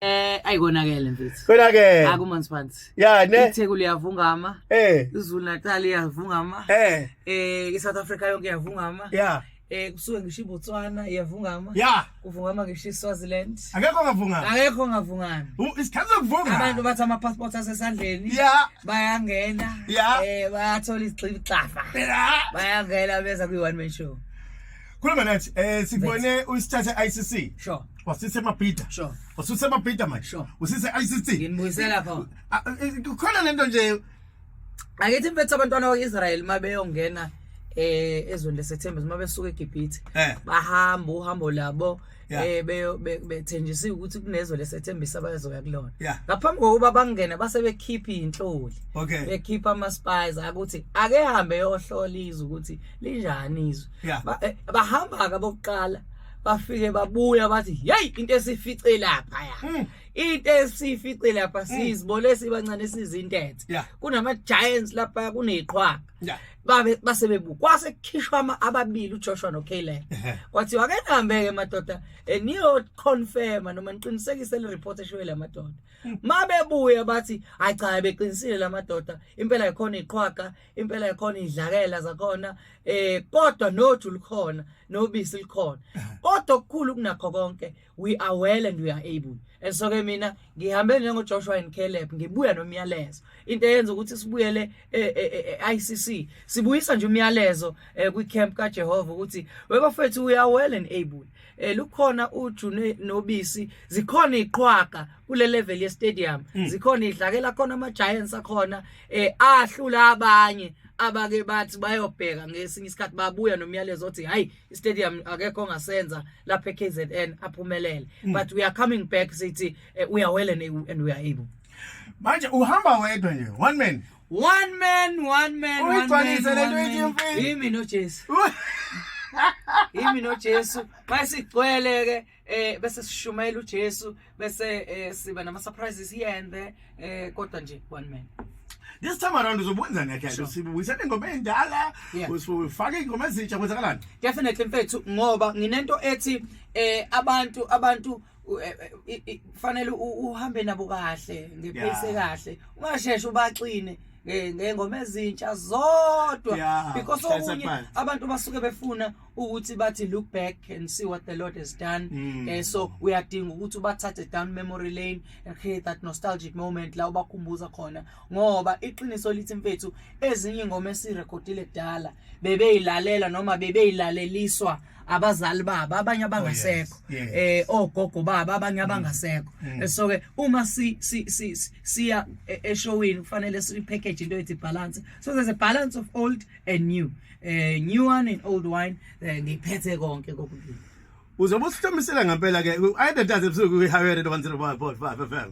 Eh ayikonakele mfethu. Konakele. Akumanzi phansi. Ya ne. ITheku liyavungama. Eh. IZulu Natal iyavungama. Eh. Eh iSouth Africa yonke iyavungama. Ya. Eh kusuke ngisho iBotswana iyavungama. Ya. Kuvungama ngisho iSwaziland. Akekho ngavungama. Akekho ngavungama. Isikhathi sokuvunga. Abantu bathi ama passports asesandleni. Ya. Bayangena. Ya. Eh bayathola izigxibi xafa. Ya. Bayangena beza kwi one man show. Khuluma nathi. Eh sibone usithathe ICC. Sure. wasise mabhida sure wasise mabhida manje sure usise ICC nginibuyisela pha ah, eh, eh, khona lento nje akethi mfethu abantwana bakwaIsrael mabeyongena eh ezweni lesethemba uma besuka eGibhithe eh. bahamba uhambo labo eh bethenjisiwe ukuthi kunezwe lesethembisa abazoya kulona ngaphambi kokuba bangene base bekhipha inhloli bekhipha ama spies ukuthi ake hambe yohlola izwe ukuthi linjani izwe eh, bahamba ka bokuqala bafike babuya bathi hey into esifice lapha ya hmm. into esifice lapha hmm. sizibole sibancane sizintethe kunama giants lapha kuneqhwaga babe basebebu kwase kukhishwa ama ababili uJoshua noKaylen kwathi wake nihambeke madoda eh, niyo confirm noma niqinisekise le report eshiwe la madoda hmm. mabebuya bathi acha beqinisile la madoda impela ikhona iqhwaga impela ikhona idlakela zakhona eh kodwa noju likhona nobisi likhona kodwa okukhulu kunakho konke we are well and we are able and so ke mina ngihambe njengo Joshua and Caleb ngibuya nomyalezo into eyenza ukuthi sibuyele eICC eh, eh, eh, sibuyisa nje umyalezo kwi camp kaJehova ukuthi webafethu we are well and able eh lukhona ujune nobisi zikhona iqhwaga kule level ye stadium mm. zikhona idlakela khona ama giants akhona eh ahlula abanye abake bathi bayobheka ngesinye isikhathi babuya nomyalezo othi hayi istadium akekho ongasenza lapha eKZN aphumelele mm. but we are coming back sithi eh, we are well and, and we are able manje uhamba wedwa nje one man One man, one man, one man. Yimi noJesu. Yimi noJesu. Masigcwele ke eh bese sishumayela uJesu bese eh, siba nama surprises here and there eh kodwa nje one man. This time around uzobwenza ngeke sure. usibuyisele ingoma endala yeah. usifake ingoma ezintsha kwenzakalani? Definitely mfethu ngoba nginento ethi eh abantu abantu u- eh, eh, i- i- kufanele u- uhambe nabo kahle ngepace Yeah. kahle ungasheshe ubaxine nge- ngengoma ezintsha zodwa Yeah, because shayisa okunye phansi. abantu basuke befuna ukuthi bathi look back and see what the lord has done Mm. eh, so uyadinga ukuthi ubathathe down memory lane and create that nostalgic moment la ubakhumbuza khona ngoba iqiniso lithi mfethu ezinye ingoma esirekhodile kudala bebeyilalela noma bebeyilaleliswa abazali babo abanye abangasekho oh, yes, yes. eh ogogo babo abanye mm. abangasekho mm. Eh, so ke uma si si si siya e, eshowini kufanele si package into ethi balance so there's a balance of old and new eh new one and old wine eh, ngiphethe konke kokubili uzobe usihlomisela ngempela ke i data ebusuku we hired 105.5 FM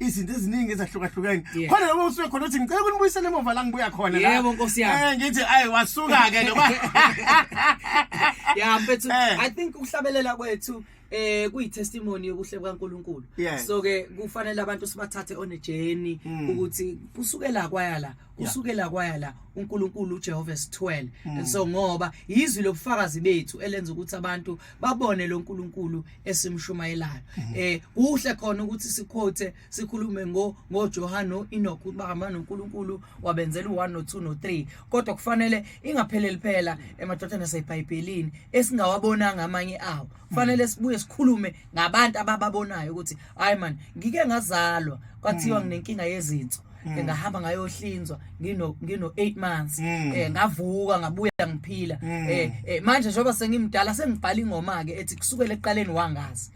izinto eziningi ezahlukahlukene Yeah. khona noma usuke khona uthi ngicela ukunibuyisela emuva la ngibuya khona la. Yebo, Nkosi yami. Eh, ngithi ayi wasuka-ke noma yeah mfethu Eh. i think ukuhlabelela kwethu eh kuyitestimony yokuhle kwaNkuluNkulu Yes. so ke kufanele abantu sibathathe on a journey Mm. ukuthi kusukela kwaya la kusukela kwaya la uNkulunkulu uJehova esithwele Mm. and so ngoba yizwi lobufakazi bethu elenza ukuthi abantu babone lo nkulunkulu esimshumayelayo mhm. eh kuhle khona ukuthi siquote sikhulume ngo ngoJohane noEnoch ukuba hamba noNkulunkulu wabenzela u1 no2 no3 kodwa kufanele ingapheleli phela emadodana aseBhayibhelini esingawabonanga amanye awo kufanele mhm. sibuye sikhulume ngabantu abababonayo ukuthi hayi man ngike ngazalwa kwathiwa mhm. nginenkinga yezinso mm. ngahamba ngayohlinzwa ngino ngino 8 months mm. eh ngavuka ngabuya ngiphila mm. eh, eh manje njengoba sengimdala sengibhala ingoma ke ethi kusukela eqaleni wangazi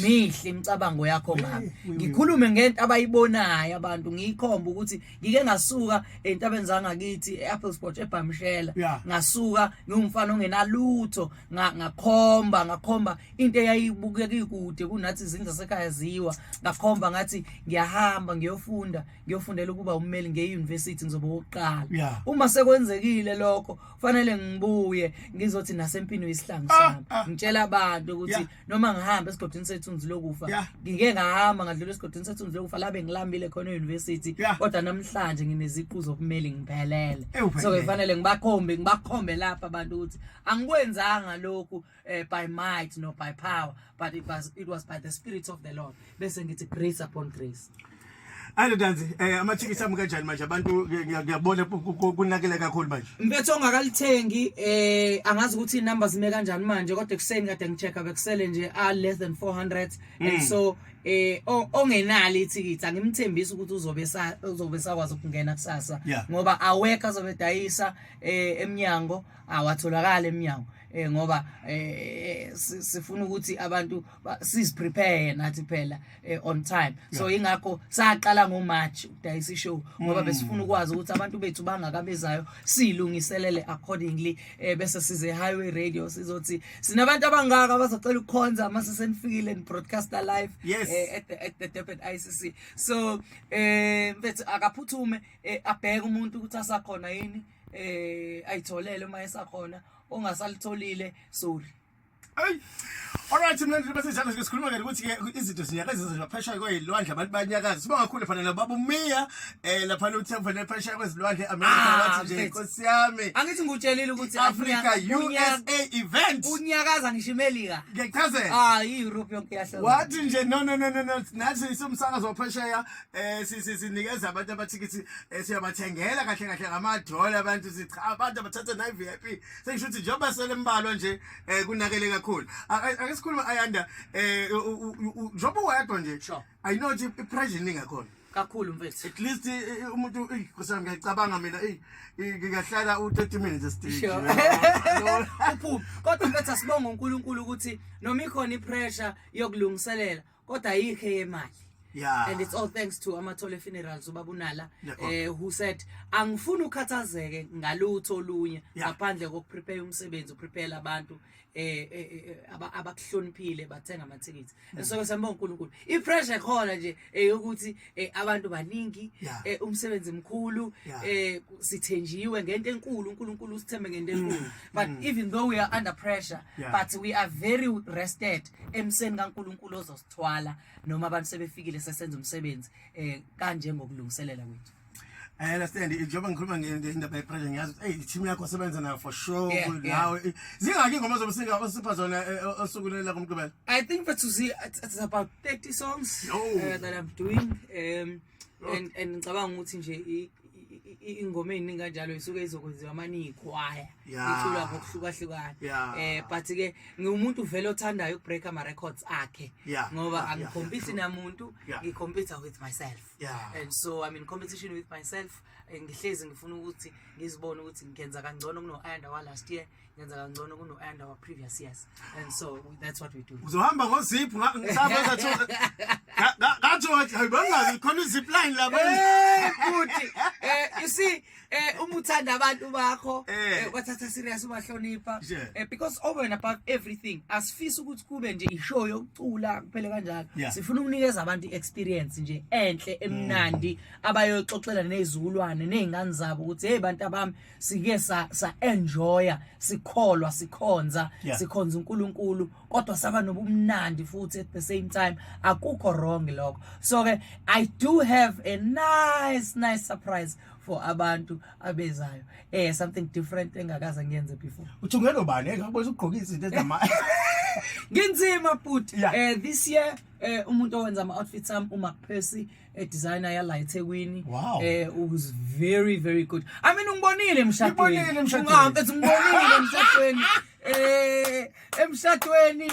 mihle imicabango yakho ngami ngikhulume ngento abayibonayo abantu ngiyikhomba ukuthi ngike ngasuka entabeni zangakithi eApple Sport eBhamshela ngasuka ngingumfana ongenalutho ngakhomba ngakhomba into eyayibukeka ikude kunathi izindlu zasekhaya ziwa ngakhomba ngathi ngiyahamba ngiyofunda ngiyofundela ukuba ummeli ngeuniversity ngizoba wokuqala yeah. uma sekwenzekile lokho fanele ngibuye ngizothi nasempini uyisihlangu ah, sami ah, ah. ngitshela abantu ukuthi yeah. noma ngihamba esigodini sethunzi lokufa yeah. ngike ngahamba ngadlula esigodini sethunzi lokufa labe ngilambile khona euniversity yeah. kodwa namhlanje ngineziqu zokumeli ngiphelele so kufanele ngibakhombe ngibakhombe lapha abantu ukuthi angikwenzanga lokhu uh, by might nor by power but it was, it was by the spirit of the lord bese ngithi grace upon grace Alo danzi eh amathikithi ami kanjani manje abantu ngiyabona kunakele kakhulu manje. Mfethu ongakalithengi eh angazi ukuthi inumber zime kanjani manje kodwa ekuseni kade ngichecka bekusele nje a less than 400 and hmm. so eh ongenali ithikithi angimthembisi ukuthi uzobe uzobe sakwazi ukungena kusasa ngoba awekho azobe dayisa eh emnyango awatholakali emnyango eh ngoba eh sifuna ukuthi abantu sis prepare nathi phela eh, on time so ingakho saqala ngo March ukudayisa show ngoba mm. besifuna ukwazi ukuthi abantu bethu bangakabezayo silungiselele accordingly eh bese size highway radio sizothi sinabantu abangaka abazocela ukukhonza uma sesenifikile in broadcaster live yes. eh, at the, at the Durban ICC so eh mfethu akaphuthume eh, abheke umuntu ukuthi asakhona yini eh ayitholele uma esakhona ongasalitholile sorry Hey. Alright mlandeli bese njalo ke sikhuluma ke ukuthi ke izinto zinyakaza nje phesha kwezilwandle abantu banyakaza siba kakhulu fana la babu Mia eh lapha lo uthe fana phesha kwezilwandle America Ah, wathi nje mfethu. Nkosi yami angithi ngikutshelile ukuthi Africa unyaka- USA event unyakaza ngisho imelika ngechazela hayi i-europe yonke yahlala wathi nje no no no no no nathi somsakazo waphesheya eh sinikeza abantu abathikithi eh, siyabathengela kahle kahle ngamadola abantu sicha abantu abathatha nayi VIP sengisho ukuthi njengoba selembalwa nje eh, kunakele kakhulu ake sikhulume ayanda eh, njengoba wedwa nje i know ukuthi ipressure ningakhona kakhulu mfethu at least eh, eh, umuntu ey kusami ngiyacabanga mina ey ngiyahlala u30 minutes estage uphuphi kodwa mfethu asibonga uNkulunkulu ukuthi noma ikhona ipressure yokulungiselela kodwa ayikho eyemali Yeah. And it's all thanks to Amathole Funerals ubabunala eh who said angifuni ukhathazeke ngalutho olunye ngaphandle kokuprepare umsebenzi uprepare abantu eh, eh, eh, eh abakuhloniphile bathenga amathikithi mm. so sembonga uNkulunkulu ipressure khona nje eyokuthi eh abantu baningi yeah. eh umsebenzi mkhulu yeah. eh sithenjiwe ngento enkulu uNkulunkulu usithembe ngento enkulu mm. but mm. even though we are under pressure yeah. but we are very rested emseni kaNkulunkulu ozosithwala noma abantu sebefikile sesenza umsebenzi eh kanje ngokulungiselela kwethu I understand njengoba ngikhuluma ngendaba yepressure ngiyazi ukuthi hey team yakho sebenza nayo for sure Yeah, yeah. nawe zingaki ingoma zobusinga osipha zona eh, o- osuku leli lakho mgqibelo I think for Susie, it's, it's about 30 songs Yo. uh, that I'm doing. Um, and and ngicabanga ukuthi nje i- i- i- i- ingoma eziningi kanjalo isuke izokwenziwa manje iyikhwaya Yeah. iculwa ngokuhlukahlukana Yeah. eh but ke ngiwumuntu vele othandayo ukubreaka ama records akhe Yeah. ngoba Yeah. angikhompisi namuntu Yeah. ngikhompisa with myself yeah. and so I'm in competition with myself eh, ngihlezi ngifuna ukuthi ngizibone ukuthi ngenza kangcono kuno-ayanda wa-last year ngenza kangcono kuno-ayanda wa-previous years and so that's what we do uzohamba ngoziphu ngathi khona izipline labuti eh, you see eh uma uthanda abantu bakho eh, eh wathatha serious ubahlonipha eh because over and above everything asifisi ukuthi kube nje ishow yokucula kuphele kanjalo sifuna ukunikeza abantu experience nje enhle emnandi mm. abayoxoxela nezulwane nezingane zabo ukuthi hey bantu abami sike sa sa enjoya sikholwa sikhonza sikhonza uNkulunkulu kodwa saba nobumnandi futhi at the same time akukho wrong lokho so ke i do have a nice nice surprise for abantu abezayo eh something different engakaze ngiyenze before uthungelo bani engakubona eh, ugqoka izinto ezama nginzima futhi yeah. eh this year eh umuntu owenza ama outfits am uma Percy eh designer yala eThekwini wow. eh was very very good i mean ungibonile emshadweni ungibonile emshadweni eh emshadweni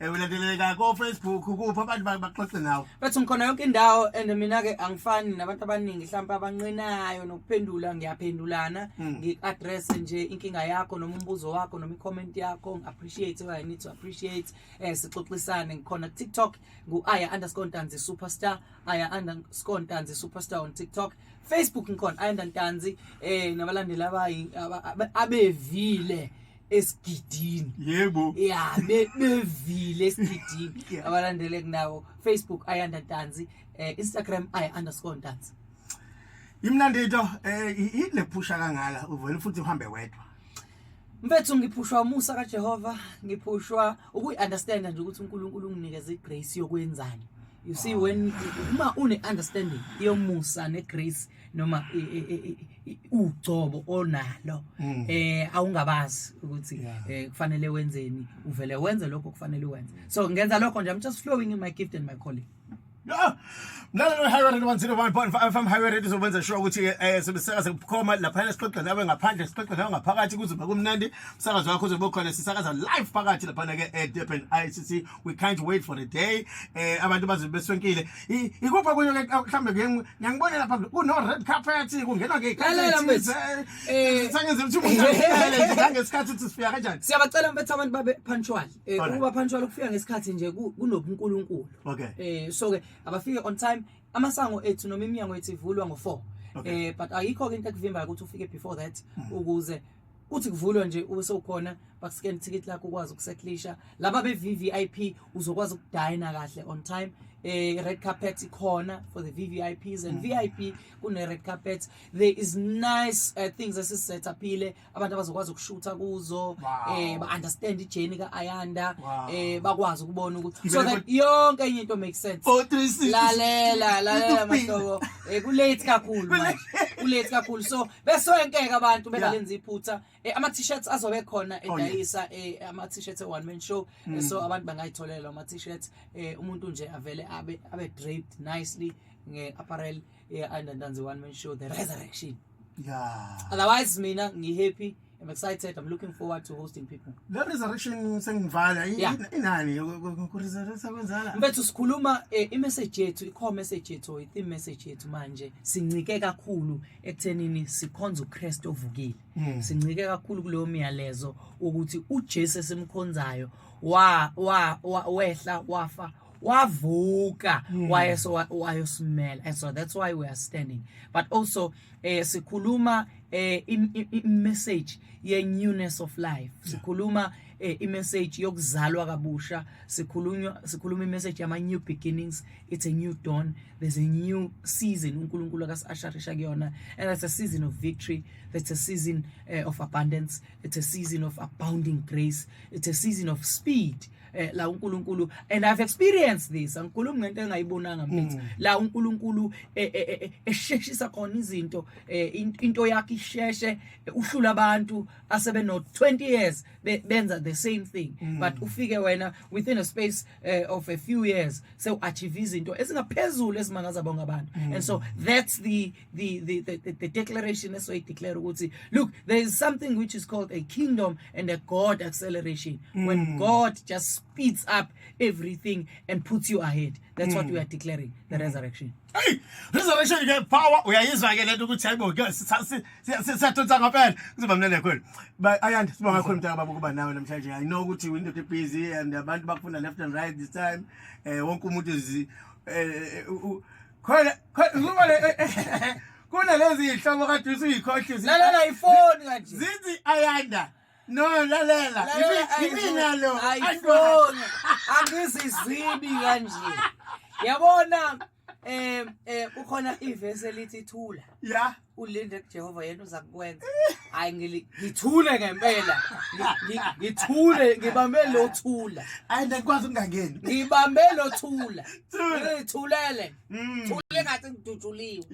Eh ulandeleka ko Facebook kuphi abantu ba- baxoxe nawe. Bathi ngikhona yonke indawo and mina-ke angifani nabantu abaningi mhlawumpe abanqinayo nokuphendula ngiyaphendulana Mm. ngi-addresse nje inkinga yakho noma umbuzo wakho noma i-comment yakho ngi-appreciate what I need to appreciate um sixoxisane ngikhona ku-tiktok ngu-aya underscore ntanzi superstar aya underscore ntanzi superstar on tiktok facebook ngikhona aya ntanzi um nabalandeli abayi- aba- aba- abevile esigidini yebo ya bevile esigidini abalandele kunawo facebook ayanda dansi eh, instagram ay underscore dansi imnandi into eh ile phusha kangala uvele futhi uhambe wedwa Mfethu ngiphushwa umusa kaJehova, ngiphushwa ukuyiunderstand nje ukuthi uNkulunkulu unginikeze igrace yokwenzani. You see when uma une understanding yomusa negrace noma ugcobo onalo mm. eh awungabazi ukuthi eh, kufanele wenzeni uvele wenze lokho kufanele wenze so ngenza lokho nje i'm just flowing in my gift and my calling mlalelo we-highway radio 101.5 fm highway radio izokwenza sure ukuthi um eh, sibisaka sekukhoma laphana sixoxe nawe ngaphandle sixoxe nawe ngaphakathi kuzoba kumnandi umsakazi wakho uzobe ukhona sisakaza live phakathi laphana-ke edurban i c c we can't wait for the day eh abantu baze beswenkile ikupha kunye ke mhlambe ngiyangibona lapha kuno red carpet kungenwa ke lalela mfethu eh sangenze ukuthi umuntu ahlele ngesikhathi ukuthi sifika kanjani siyabacela mfethu abantu babe punctual eh ukuba punctual ukufika ngesikhathi nje kunobunkulunkulu okay eh so ke abafike on time amasango ethu noma iminyango ethu ivulwa ngo4 eh but ayikho ke into ekuvimbayo ukuthi ufike before that hmm. ukuze kuthi kuvulwa nje ube sewukhona bakuscan ticket lakho ukwazi ukusekhlisha laba be VVIP uzokwazi ukudina kahle on time eh red carpet ikhona for the VVIPs and mm. VIP kune red carpet there is nice uh, things esisethapile abantu abazokwazi ukushutha kuzo eh ba understand ijourney ka Ayanda eh bakwazi ukubona ukuthi so that yonke enye into makes sense oh, lalela lalela mahlobo eh ku late kakhulu manje ku late kakhulu so besoyenkeka abantu bengalenza iphutha eh, ama t-shirts azobe khona oh, edayisa eh, ama t-shirts one man show eh, mm. so abantu bangayitholela ama t-shirts umuntu nje avele abe abe draped nicely nge apparel yeah and then the one man show the resurrection yeah otherwise mina ngihappy I'm excited. I'm looking forward to hosting people. Le resurrection sengivala Yeah. in- inani kuresurrecta kwenzala. Mfethu sikhuluma eh, i-message yethu, i-core message yethu, i-theme message yethu manje sincike kakhulu ekuthenini sikhonza uKristu ovukile. Hmm. Sincike kakhulu kuleyo myalezo ukuthi uJesu esimkhonzayo wa wa wa- wehla wafa wavuka Hmm. wayeso wayosimela and so that's why we are standing but also eh sikhuluma eh i-message ye-newness of life sikhuluma eh, i-message yokuzalwa kabusha sikhulunywa sikhuluma i-message yama-new beginnings it's a new dawn there's a new season unkulunkulu akasiasharisha kuyona and that's a season of victory that's a season uh, of abundance it's a season of abounding grace it's a season of speed uh, eh, la uNkulunkulu and I've experienced this angikhulumi ngento engayibonanga mfethu mm. la uNkulunkulu eh, eh, esheshisa khona izinto into yakhe isheshe uhlula abantu asebe no 20 years benza the same thing mm. but ufike wena within a space of a few years so achieve izinto ezingaphezulu ezimangaza bonke abantu mm. and so that's the the, the, the, the declaration esoyideclare ukuthi look there is something which is called a kingdom and a god acceleration mm. when hmm. god just speeds up everything and puts you ahead that's mm. what hmm. we are declaring the mm. resurrection Hey, resurrection ke power uyayizwa ke lento ukuthi hayibo ke siyadonsa ngempela kuzoba mnene kakhulu but ayandi sibonga kakhulu mntaka baba ukuba nawe namhlanje i know ukuthi window busy and abantu bakufuna left and right this time eh wonke umuntu eh, eh, eh khona khona ngoba le eh, eh, eh, kunalezi iy'hlobo kade usuyikhohlisa lalela ifoni kanje zithi ayanda no lalela yimina lo ayifoni angizizibi kanje yabona um um kukhona ivesi elithi thula ya ulinde kujehova yena uza kukwenza hayi ngithule ngempela ngithule ngibambe lo thula hayi ndikwazi ukungangeni ngibambe lo thula ngithulele mm. thule ngathi ngidutshuliwe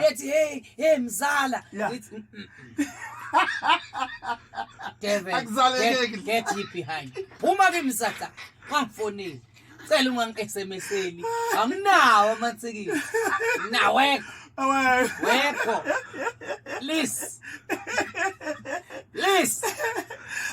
yethi hey hey mzala ngithi mm, mm, devil get, get behind phuma kimi sata wangifonile Cela ungangi-SMS-eli. Anginawo amathikili. Nawekho. Awekho. Wekho. Please. Please.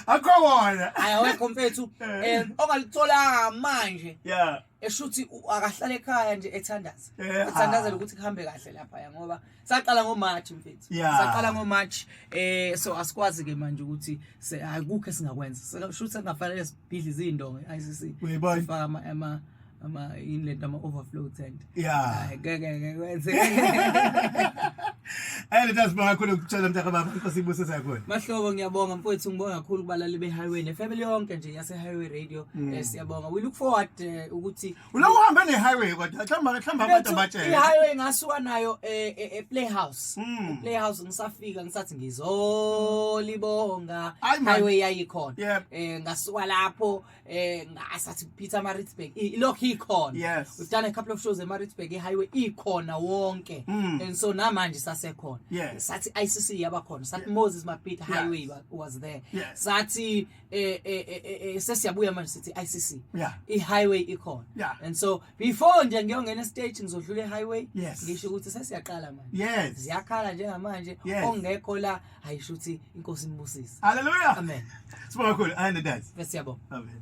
Akho wona. Ayawekho mfethu. Eh ongalitholanga manje. Yeah. Eshuthi akahlale ekhaya nje ethandaza. Ethandaza ukuthi kuhambe kahle lapha ngoba saqala ngoMarch mfethu Yeah. saqala ngoMarch eh so asikwazi ke manje ukuthi se- akukho esingakwenza Seka- shuthi sengafanele sibhidle izindongo i-ICC Uyibona? sifaka ama ama ama yini lento ama overflow tent Yeah. Ay, ngeke ngeke kwenze Eh leta sibonga kakhulu ukutshela mntaka baba inkosi ibuse sakhona. Mahlobo ngiyabonga mfowethu ngibonga kakhulu kubalali be-highway nefamily yonke nje yase-highway radio Mm. eh, siyabonga we look forward eh, ukuthi Ula uhambe ne highway kodwa hlamba hlamba abantu abatshela. I highway ngasuka nayo e eh, eh, eh, playhouse. Hmm. Playhouse ngisafika ngisathi ngizolibonga. Highway yayikhona. Eh ngasuka lapho eh ngasathi Peter Maritzburg ilokho ikhona. We've done a couple of shows eMaritzburg i highway ikhona wonke. Hmm. And so namanje sasekhona. Sathi ICC yaba khona. Sathi Moses Mapita highway was there. Sathi eh, eh, eh, sesiyabuya manje sithi ICC yeah. i-highway ikhona yeah. and so before nje ngiyongena estage ngizodlula i-highway yes. ngisho ukuthi sesiyaqala manje yes. ziyakhala njengamanje yes. ongekho la ayisho ukuthi inkosi imbusise haleluya amen sibonga kakhulu ayende dad siyabonga amen